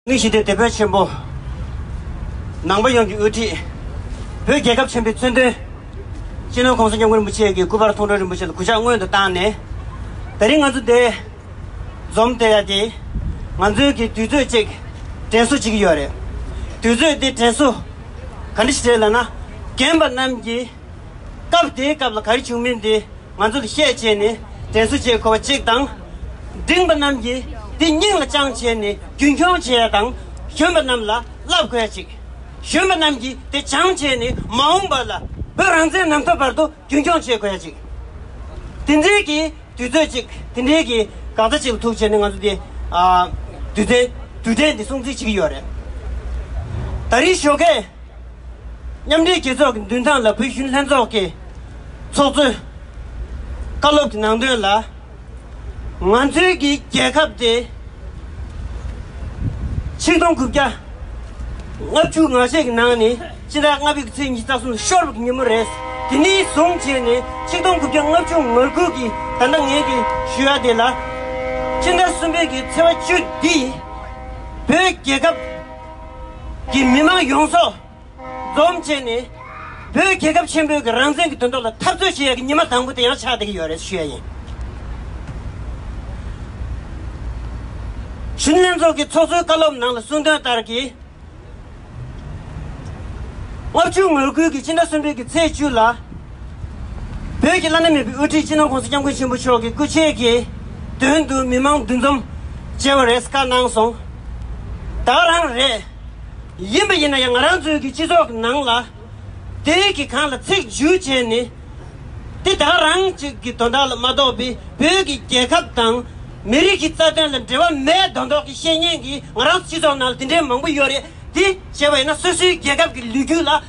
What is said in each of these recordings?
མིག་ཞི་བདེ་དེད་དཔོན་ཆེན་པོ། ནང་པ་ཡོངས་ཀྱི་དབུ་ཁྲིད། བོད་རྒྱལ་ཁབ་ཆེན་པོའི་མཚོན་དོན། སྤྱི་ནོར ྋགོང་ས ྋསྐྱབས་མགོན་རིན་པོ་ཆེ་གི་སྐུ་པར་མཐོང་གྲོལ་རིན་པོ་ཆེ་ལ་གུས་ཕྱག་སྔོན་དུ་བཏང་ནས། ད་རིང་ང་ཚོ་འདས། འཛོམས་བསྡད་ཡ་དེ། ང་ཚོའི་གི་དུས་ཚོད་ཅིག་དྲན་གསོ་བྱེད་ཀྱི་ཡོད་རེད། དུས་ཚོད་དེ་དྲན་གསོ། ག་འདྲ་ཞིག་རེད་ལབ་ན། རྒན་པ་རྣམས་ཀྱིས། སྐབས་དེའི་སྐབས་ལ་ག་རེ་བྱུང་མིན་དེ། ང་ཚོ་ལ་ཤས་བྱས་ནས་དྲན་གསོ་བྱེད་དགོས་པ་གཅིག་དང། འབྲིང་པ་རྣམས་ཀྱིས་དེ་སྙིང་ལ་བཅངས་བྱས་ནས་རྒྱུན་འཁྱོངས་བྱས་དང་གཞོན་པ་རྣམས་ལ་བསླབ་དགོས་ཡ་གཅིག། གཞོན་པ་རྣམས་ཀྱིས་དེ་བྱང་བྱས་ནས་མ་འོངས་པ་ལ་བོད་རང་བཙན་ནམ་ཐོབ་བར་དུ་རྒྱུན་འཁྱོངས་བྱེད་དགོས་ཡ་གཅིག། དེ་འབྲེལ་གྱི་དུས་ཚོད་ཅིག་དེ་འབྲེལ་གྱི་འགག་རྩ་ཅིག་ལ་ཐུག་བྱས་ནས་ང་ཚོ་དེ། དུས་དྲན་དུས་དྲན་དེ་སྲུང་བརྩི་བྱེད་ཀྱི་ཡོད་རེད། ད་རིང་ཞོགས་ཁས། མཉམ་འབྲེལ་རྒྱལ་ཚོགས་ཀྱི་མདུན་ཐང་ལ་བོད་གཞུང་ལྷན་ཚོགས་ཀྱི་ཚོགས་གཙོས། བཀའ་སློབ་ཀྱི་ནང་དོན་ལ། ང་ཚོའི་གི་རྒྱལ་ཁབ་དེ་ཆིག་སྟོང་དགུ་བརྒྱ་ལྔ་བཅུ་ང་བཞི་གི་ནང་ནས་སྤྱི་ཟླ་ལྔ་པའི་གི་ཚེས་ཉིས་རྩ་གསུམ་ལ་ཤོར་བའི་གི་ཉིན་མོ་རེད། དེ་ནས་བཟུང་བྱས་ནས་ཆིག་སྟོང་དགུ་བརྒྱ་ལྔ་བཅུ་ང་དགུ་གི་ད་ལྟ་ངས་གི་ཞུ་བ་དེ་ལ། སྤྱི་ཟླ་གསུམ་པའི་གི་ཚེས་བ་བཅུ་འདི་བོད་རྒྱལ་ཁབ། ཀྱི་མི་མང་ཡོངས་སོ། འཛོམས་བྱས་ནས། བོད་རྒྱལ་ཁབ་ཆེན་པོའི་གི་རང་བཙན་གི་དོན་དོག་ལ་འཐབ་རྩོད་བྱེད་ཡ་གི་ཉི་མ་དང་པོ་དེ་ཡང་ཆགས་བསྡད་གི་ཡོད་རེད་ཞུ་ཡ་ཡིན། གཞུང་ལྷན་ཚོགས་ཀྱི་ཚོགས་གཙོའི་བཀའ་སློབ་ནང་ལ་གསུང་དོན་ལྟར་གི། ལྔ་བཅུ་ངོས་བསྐུལ་གི་སྤྱི་ཟླ་གསུམ་པའི་གི་ཚེས་བཅུ་ལ། བོད་ཀྱི་བླ་ན་མེད་པའི་དབུ་ཁྲིད་སྤྱི་ནོར ྋགོང་ས་སྐྱབས་མགོན་ཆེན་པོ་མཆོག་གི་སྐུ་མཆེད་ཀྱི་མདུན་དུ་མི་མང་འདུ་འཛོམས་བྱེད་པར་རེས་འགའ་གནང་སོང། དག་རང་རེད། ཡིན་པ་ཡིན་ན་ཡང་ང་རང་ཚོའི་གི་སྤྱི་ཚོགས་ཀྱི་ནང་ལ་དེ་རིགས་ཀྱི་གང་ལ་ཚིག་བརྗོད་བྱས་ནས་དེ་དག་རང་གཅིག་གི་དོན་དག་ལ་མ་གཏོགས་པའི་བོད་ཀྱི་རྒྱལ་ཁབ་དང་མི་རིགས་ཀྱི་རྩ་དོན་ལ་འབྲེལ་བ་མེད་དོན་དག་གི་བཤེས་གཉེན་གྱི་ང་རང་ཚོ་སྤྱི་ཚོགས་ནང་ལ་དེ་འདྲའི་མང་པོ་ཡོད་རེད་དེ་བྱས་པ་ཡིན་ན་སོ་སོའི་རྒྱལ་ཁབ་ཀྱི་ལུས་རྒྱུད་ལ།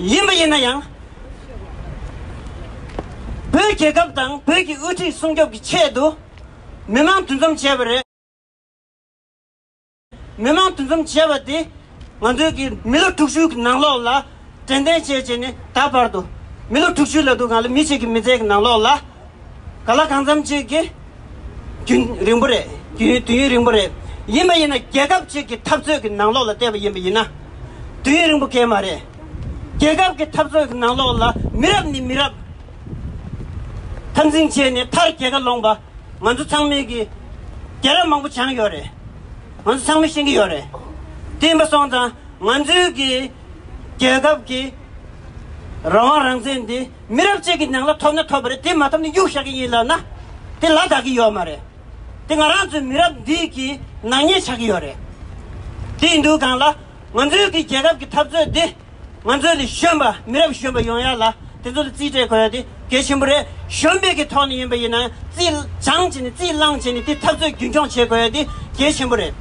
ཡིན་པ་ཡིན་ན་ཡང། བོད་རྒྱལ་ཁབ་དང་བོད་ཀྱི་དབུ་ཁྲིད་སྲུང་སྐྱོབ་ཀྱི་ཆེད་དུ། མི་མང་འདུ་འཛོམས་བྱས་པ་རེད། མི་མང་འདུ་འཛོམས་བྱས་པ་དེ། ང་ཚོའི་གི་མི་ལོ་དྲུག་ཅུའི་ནང་ལོགས་ལ། དྲན་རྟེན་བཅས་བྱས་ནས་ད་བར་དུ། མི་ལོ་དྲུག་ཅུའི་ལ་དུ་ང་ལ་མི་གཅིག་གི་མི་ཚེའི་ནང་ལོགས་ལ། ག་ལ་གང་འཚམ་ཅིག་གིས། དུས་རིང་པོ་རེད། དུས་ཡུན་རིང་པོ་རེད། ཡིན་པ་ཡིན་ན་རྒྱལ་ཁབ་ཅིག་གི་འཐབ་རྩོད་ཀྱི་ནང་ལོགས་ལ་བལྟས་པ་ཡིན་པ་ཡིན་ན། དུས་ཡུན་རིང་པོ་སྐད་མ་རེད། རྒྱལ་ཁབ་ཀྱི་འཐབ་རྩོད་ཀྱི་ནང་ལོགས་ལ་མི་རབས་ནས་མི་རབས། འཐབ་འཛིང་བྱས་ནས་མཐར་རྒྱལ་ཁ་ལོངས་པ། ང་ཚོ་ཚང་མས་ཀྱི། རྒྱལ་རབས་མང་པོ་བྱང་ཡོད་རེད། ང་ཚོ་ཚང་མས་ཤེས་ཀྱི་ཡོད་རེད། བསྟན་པ་སྲོང་དང་ང་ཚོའི་ཀྱི། རྒྱལ་ཁབ་ཀྱི། རང་དབང་རང་བཙན་འདི། མི་རབས་གཅིག་གི་ནང་ལ་ཐོབ་ན་ཐོབ་པ་རེད་དེ་མ་ཐོབ་ན་གཡུག་བཞག་གི་ཡིན་ལབ་ན་དེ་ལ་དག་གི་ཡོད་མ་རེད་དེ་ང་རང་ཚོའི་མི་རབས་འདིས་ཀྱི་ནག་ཉེས་ཆགས་ཀྱི་ཡོད་རེད་དེ་ཡིན་དུས་གང་ལ་ང་ཚོའི་གི་རྒྱལ་ཁབ་གི་འཐབ་རྩོད་འདི་ང་ཚོའི་ལས་གཞོན་པ་མི་རབས་གཞོན་པ་ཡོང་ཡག་ལ་དེ་ཚོ་ལ་རྩིས་སྤྲད་དགོས་ཡག་དེ་གལ་ཆེན་པོ་རེད་གཞོན་སྤེལ་གི་ཐོག་ནས་ཡིན་པ་ཡིན་ན་རྩིས་སྦྱང་བྱེད་ནས་རྩིས་བླངས་བྱེད་ནས་དེ་འཐབ་རྩོད་རྒྱུན་འཁྱོངས་བྱེད་དགོས་ཡག་དེ་གལ་ཆེན་པོ་རེད་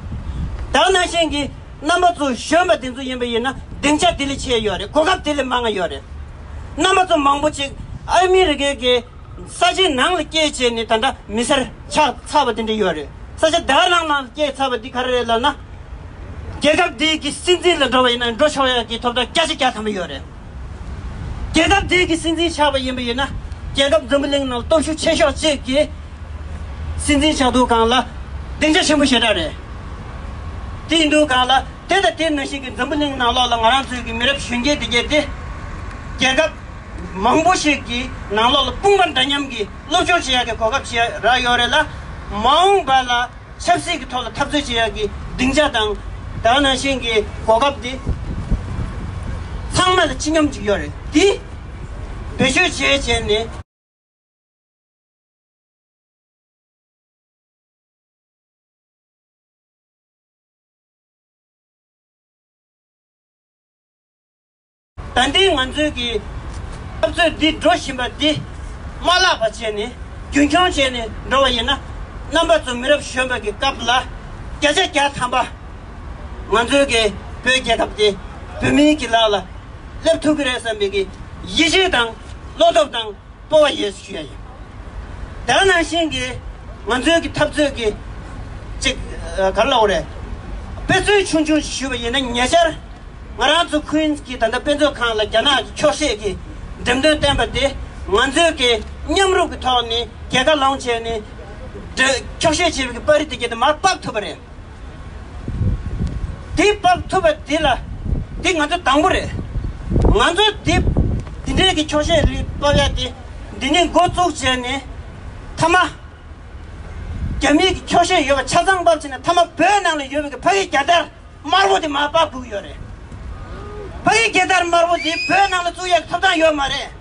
དྭགས་ནང་བཞིན་གྱི་རྣམ་པ་ཚོ་གཞོན་པ་དེ་ཚོ་ཡིན་པ་ཡིན་ན་སྡིངས་ཆ་དེ་ལས་ཆེ་ཡོད་རེད་གོ་སྐབས་དེ་ལས་མང་ཡོད་རེད། རྣམ་པ་ཙམ་མང་པོ་ཅིག་ཨ་མི་རི་ཀའི་གི་ས་ཆའི་ནང་ལ་སྐྱེས་བྱས་ནས་ད་འདྲ་མི་སེར་ཆགས་ཚར་བ་དེ་འདྲ་ཡོད་རེད་ས་ཆ་དེའ་ནང་ན་སྐྱེས་ཚར་བ་འདི་ག་རེ་རེད་ལབ་ན། རྒྱལ་ཁབ་འདི་གི་སྲིད་འཛིན་ལ་འགྲོ་བ་ཡིན་ན་འགྲོ་ཆོག་ཡག་གི་ཐོབ་ཐང་སྐྱ་ཆ་སྐྱ་ཐམ་པོ་ཡོད་རེད། རྒྱལ་ཁབ་འདི་གི་སྲིད་འཛིན་ཆགས་པ་ཡིན་པ་ཡིན་ན་རྒྱལ་ཁབ་འཛམ་བུ་གླིང་ནང་སྟོབས་ཤུགས་ཆེ་ཤོག་ཅིག་གི་སྲིད་འཛིན་ཆགས་འདུག་གང་ལ་སྡིངས་ཆ་ཆེན་པོ་ཞེ་དྲག་རེད་དེ་འདུག་གང་ལ། དེ་ལྟ་དེ་ནུས་ཤིག་གིས་འཛམ་བུ་གླིང་ནང་ལོགས་ལ་ང་རང་ཚོའི་གི་མི་རབས་གཞོན་སྐྱེས་དེ་གྱེས་ཏེ། རྒྱལ་ཁབ་མང་པོ་ཞིག་གི་ནང་ལོགས་ལ་དཔུང་པ་འདྲ་མཉམ་གྱི་སློབ་སྦྱོང་བྱེད་ཡག་གི་གོ་སྐབས་བྱེད་ཡག་རག་ཡོད་རེད་ལ། མ་འོངས་པ་ལ་ཆབ་སྲིད་གི་ཐོག་ལ་འཐབ་རྩོད་བྱེད་ཡག་གི་སྡིངས་ཆ་དང། དག་སྣང་ཞིང་གི་གོ་སྐབས་དེ། ཚང་མ་ལ་ཅི་སྙམ་ཅིག་ཡོད་རེད་དེ། བེད་སྤྱོད་བྱས་བྱས་ནས། ད་ལྟའི་ང་ཚོའི་གི་འཐབ་རྩོད་འདི་འགྲོ་བཞིན་པ་འདི། མ་བརླག་པ་བྱས་ནས་རྒྱུན་འཁྱོངས་བྱས་ནས་འགྲོ་བ་ཡིན་ན། རྣམ་པ་ཚོ་མི་རབས་གཞོན་པ་གི་སྐབས་ལ་བརྒྱ་ཆ་བརྒྱ་ཐམ་པ། ང་ཚོའི་གི་བོད་རྒྱལ་ཁབ་འདི་བོད་མིའི་གི་ལག་ལ་སླེབས་ཐུབ་གི་རེད་བསམ་པའི་གི་ཡིད་ཆེས་དང་བློ་སྟོབས་དང། སྤོ་བ་ཡོད་ཞུ་ཡ་ཡིན། དེ་ག་ནང་བཞིན་གྱི་ང་ཚོའི་གི་འཐབ་རྩོད་གི་ཅིག་ག་ལོག་རེད། དཔེ་མཚོན་ཆུང་ཆུང་ཞིག་ཞུ་བ་ཡིན་ན་ཉེ་ཆར་ང་རང་ཚོ Queens གྱི་ད་ལྟ་དཔེ་མཛོད་ཁང་ལ་རྒྱ་ནག་གི་འཁྱོག་བཤད་གྱི་འགྲེམས་སྟོན་བསྟན་པ་དེ་ང་ཚོའི་གི་མཉམ་རུབ་གི་ཐོག་ནས་གྱེས་ཀ་ལོང་བྱས་ནས་འགྲེལ་འཁྱོག་བཤད་བྱས་པའི་གི་པར་རིས་དེ་གྱེས་ནས་མར་དཔག་ཐུབ་པ་རེད། འདི་སྤོབས་ཐུབ་པ་འདི་ལ་འདི་ང་ཚོ་དང་པོ་རེད། ང་ཚོ་འདི་འདི་འདྲའི་གི་ཆོག་ཤེས་རིག་སྤོབས་ཡ་དེ་འདི་ནས་འགོ་བཙུགས་བྱས་ནས་མཐའ་མ། རྒྱ་མིའི་གི་ཆོག་ཤེས་ཡོད་པ་ཆ་ཚང་སྤོབས་བྱས་ནས་མཐའ་མ་བོད་ནང་ལ་ཡོད་པའི་གི་ཕ་གི་རྒྱ་དར་དམར་བོ་དེ་མ་སྤགས་དགོས་གི་ཡོད་རེད། ཕ་གི་རྒྱལ་དར་དམར་བོ་འདི་བོད་ནང་ལ་བཙུགས་ཡ་གི་ཐོབ་ཐང་ཡོད་མ་རེད།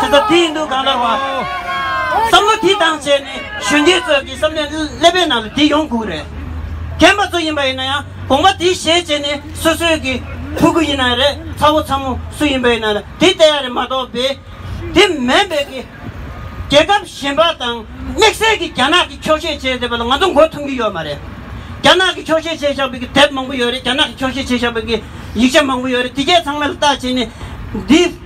ཆེ་ས་དེ་ཡིན་འདུག་གང་ལྟར་བ། བསམ་བློ་དེ་བཏང་བྱས་ནས་གཞོན་སྐྱེས་ཚོས་ཀྱི་བསམ་ནས་ཀླད་པའི་ནང་ལ་དེ་ཡོང་དགོས་རེད། རྒན་པ་ཚོ་ཡིན་པ་ཡིན་ན་ཡང་དགོངས་པ་དེ་བཞེས་བྱས་ནས་སོ་སོའི་གི་ཕྲུ་གུ་ཡིན་ན་རེད་ཚ་བོ་ཚ་མོ་སུ་ཡིན་པ་ཡིན་ན་ལ་དེ་བལྟ་ཡ་རེད་མ་གཏོགས་པས། དེ་མེན་པའི་གི། རྒྱལ་ཁབ་གཞན་པ་དང་དམིགས་བསལ་གི་རྒྱ་ནག་གི་ཆོག་ཤེས་བྱས་བསྡད་པ་ལ་ང་ཚོ་མགོ་འཐོམ་གི་ཡོད་མ་རེད། རྒྱ་ནག་གི་ཆོག་ཤེས་བྱས་བཞག་པའི་གི་དེབ་མང་པོ་ཡོད་རེད་རྒྱ་ནག་གི་ཆོག་ཤེས་བྱས་བཞག་པའི་གི་ཡིག་ཆ་མང་པོ་ཡོད་རེད་དེ་གས་ཚང་མ་ལ་བལྟ་བྱས་ནས་འདི།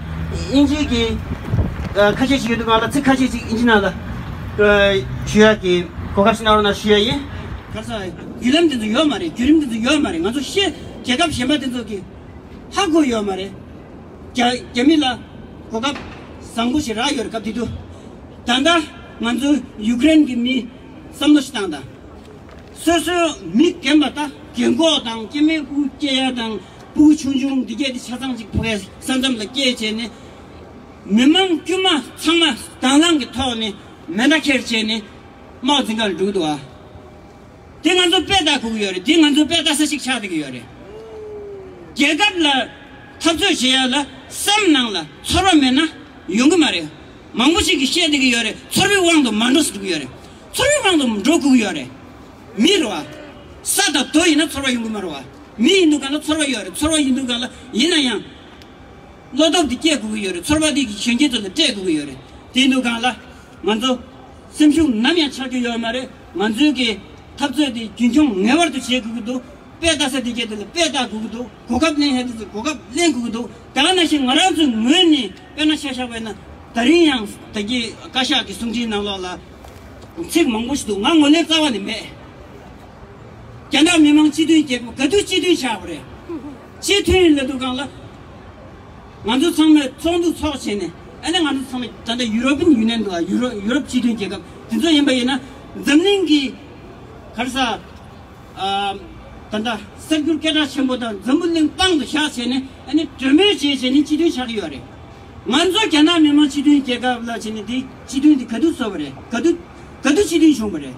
དབྱིན་ཇི་གི་ཁ་ཤས་ཤིག་ཡོད་འདུག་ག་ལ་ཚིག་ཁ་ཤས་ཤིག་དབྱིན་ཇི་ནང་ལ་ཞུ་ཡག་གི་གོ་སྐབས་ཤིག་གནང་རོགས་གནང་ཞུ་ཡག་ཡིན། ག་ས་བརྒྱུད་ལམ་དེ་ཚོ་ཡོད་མ་རེད་བརྒྱུད་རིམ་དེ་ཚོ་ཡོད་མ་རེད་ང་ཚོ་ཤེས་རྒྱལ་ཁབ་གཞན་པ་དེ་ཚོ་གི་ཧ་གོ་ཡོད་མ་རེད་རྒྱ་མི་ལ་གོ་སྐབས་བཟང་པོ་ཞིག་རག་ཡོད་རེད་སྐབས་དེ་དུས་ད་ལྟ་ང་ཚོ་ཡུག་ཀེ་རན་གི་མིས་བསམ་བློ་ཞིག་བཏང་དང། སོ་སོའི་མི་རྒན་པ་དག་རྒན་གོག་དང་སྐྱེ་དམན་དབུ་སྐྱེས་ཡ་དང། སྤུ་གུ་ཆུང་ཆུང་འདི་བརྒྱད་དེ་ཆ་ཚང་གཅིག་ཕོ་བའི་ས་མཚམས་ལ་སྐྱེལ་བྱས་ནས། མི་མང་དཀྱུས་མ་ཚང་མ་དྭངས་བླངས་ཀྱི་ཐོག་ནས་མེ་མདའ་འཁྱེར་བྱས་ནས་མའོ་ཙེ་འགག་ལ་འགྲོ་གི་འདུག་ཨ། དེ་ང་ཚོ་དཔེ་ལྟ་དགོས་ཀྱི་ཡོད་རེད་དེ་ང་ཚོ་དཔེ་ལྟ་ས་ཞིག་ཆགས་འདོད་ཀྱི་ཡོད་རེད། རྒྱལ་ཁབ་ལ་འཐབ་རྩོད་བྱེད་ཡག་ལ་སེམས་ནང་ལ་ཚོར་བ་མེད་ན་ཡོང་གི་མ་རེད། མང་པོ་ཞིག་གིས་བཤད་འདོད་ཀྱི་ཡོད་རེད་ཚོར་བའི་དབང་དུ་མ་འགྲོ་ས་འགྲོ་གི་ཡོད་རེད། ཚོར་བའི་དབང་དུ་འགྲོ་དགོས་ཀྱི་ཡོད་རེད། མི་རེད་བ། ས་དང་རྡོ་ཡིན་ན་ཚོར་བ་ཡོང་གི་མ་རེད་བ། མི་ཡིན་འདུག་ག་ལ་ཚོར་བ་ཡོད་རེད་ཚོར་བ་ཡིན་འདུག་ག་ལ། ཡིན་ན་ཡང། བློ་སྟོབས་དེ་བསྐྱེད་དགོས་ཀྱི་ཡོད་རེད་ཚོར་བ་དེ་གིས་གཞོན་སྐྱེས་ཚོ་ལ་སྤྲད་དགོས་ཀྱི་ཡོད་རེད་དེ་འདུག་ག་ལ། ང་ཚོ། སེམས་ཤུགས་ནམ་ཡང་ཆག་རྒྱུ་ཡོད་མ་རེད་ང་ཚོའི་གི། འཐབ་རྩོད་དེ་རྒྱུན་འཁྱོངས་ངེས་བར་དུ་བྱེད་དགོས་ཀྱི་འདུག་དཔེ་བལྟ་ས་དེ་གས་དེ་ལ་དཔེ་བལྟ་དགོས་ཀྱི་འདུག་གོ་སྐབས་གླེང་ཧད་ས་དེ་གོ་སྐབས་གླེང་དགོས་ཀྱི་འདུག་དག་ན་ཞིག་ང་རང་ཚོའི་ངོས་ནས་དཔེ་ན་ཤ་ཤ་བས་ན། ད་རིང་ཡང་ད་གི་བཀའ་ཤག་གི་གསུང་འཕྲིན་ནང་ལོགས་ལ། ཚིག་མང་པོ་ཞིག་འདུག་ང་ངོ་ལེན་རྩ་བ་ནས་མེད། རྒྱ་ནག་མི་མང་སྤྱི་མཐུན་རྒྱལ་ཁབ་ག་དུས་སྤྱི་མཐུན་བྱ་བ་རེད། སྤྱི་མཐུན་ལ་འགྲོ་གང་ལ། ང་ཚོ་ཚང་མས་ཚོགས་འདུ་འཚོགས་བྱས་ནས་ཨ་ནི་ང་ཚོ་ཚང་མས་ད་ལྟ་ཡུ་རོབ་པིན་ཡུ་ནན་དང་ཡུ་རོ་ཡུ་རོབ་སྤྱི་མཐུན་རྒྱལ་ཁབ་དེ་ཚོ་ཡིན་པ་ཡིན་ན་འཛམ་གླིང་གི་གར་ས་ད་ལྟ་གསར་འགྱུར་སྐད་གྲགས་ཆེན་པོ་དང་འཛམ་བུ་གླིང་དཔང་དུ་བཞག་བྱས་ནས་ཨ་ནི་གྲོས་མོལ་བྱས་བྱས་ནས་སྤྱི་མཐུན་བྱ་གི་ཡོད་རེད། ང་ཚོ་རྒྱ་ནག་མི་མང་སྤྱི་མཐུན་རྒྱལ་ཁབ་ལ་བྱས་ནས་དེ་སྤྱི་མཐུན་དེ་ག་དུས་བཟོ་བ་རེད་ག་དུས་ག་དུས་སྤྱི་མཐུན་བྱུང་བ་རེད།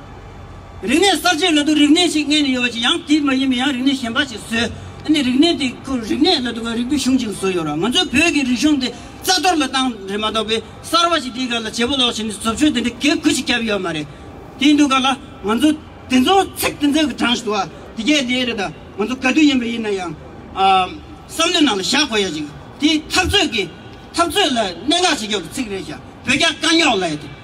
རིག་གནས་གསར་བརྗེའི་ལོ་ཏོག་རིག་གནས་ཤིག་མངལ་ནས་ཡོད་པ་ཅི་ཡང་དེ་མ་ཡིན་པའི་ཡང་རིག་གནས་གཞན་པ་ཞིག་བཟོས་ནས་རིག་གནས་དེ་ཁོ་རིག་གནས་ལ་དོ་ག་རིག་པའི་གཞུང་ཅིག་བཟོས་ཡོད་རང་ང་ཚོའི་བོད་ཀྱི་རིག་གཞུང་དེ་རྩ་གཏོར་ལ་བཏང་རེད་མ་གཏོགས་པའི་གསར་བ་ཞིག་དེའི་སྒང་ལ་བྱེད་པོ་ལོག་བྱས་ནས་བཟོ་བཅོས་དེ་འདྲའི་གེགས་ཁུལ་ཞིག་བརྒྱབ་ཡོད་མ་རེད་དེའི་འདུག་ག་ལ་ང་ཚོ་དེ་ཚོ་ཚིག་དེ་ཚོ་གི་དྲང་ཞིག་དུ་དེ་གས་དེ་རེད་ད་ང་ཚོ་ག་དུས་ཡིན་པ་ཡིན་ན་ཡང་བསམ་བློའི་ནང་ལ་བཞག་དགོས་ཡ་ཅིག་དེ་འཐབ་རྩོད་ཀྱི་འཐབ་རྩོད་ལ་གནད་འགག་བྱེད་ཆོག་གི་ཚིག་རེད་ཞག་བོད་རྒྱ་དཀའ་རྙོག་ལ་ཡ་དེ།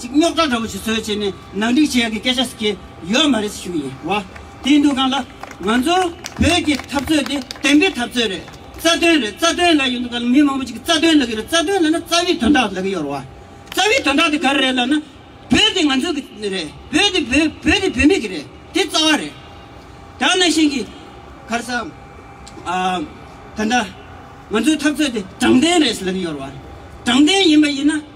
ཅིག་རྙོག་དྲ་འདྲ་བོ་ཞིག་བཟོས་བྱས་ནས་ནང་འགྲིག་བྱེད་ཡག་གི་སྐད་ཆ་ཞིག་གིས་ཡོད་མ་རེད་ཟེར་ཞུ་གི་ཡིན། བ་དེའི་འདུག་གང་ལ། ང་ཚོ་བོད་ཀྱི་འཐབ་རྩོད་དེ་བདེན་པའི་འཐབ་རྩོད་རེད། རྩ་དོན་རེད་རྩ་དོན་ལ་ཡོད་འདུག་གང་ལ་མི་མང་པོ་ཅིག་གི་རྩ་དོན་ལག་གི་རེད་རྩ་དོན་ལ་ན་རྩ་བའི་དོན་དག་ལག་གི་ཡོད་རེད་བ། རྩ་བའི་དོན་དག་དེ་ག་རེ་རེད་ལ་ན། བོད་དེ་ང་ཚོ་གི་རེད་བོད་དེ་བོད་བོད་དེ་བོད་མི་གི་རེད་དེ་རྩ་བ་རེད། དེ་ན་བཞིན་གི་གར་ས། ཨ། ད་ལྟ་ང་ཚོའི་འཐབ་རྩོད་དེ་དྲང་བདེན་རེད་ཟེར་ལག་གི་ཡོད་རེད་བ། དྲང་བདེན་ཡིན་པ་ཡིན་ན།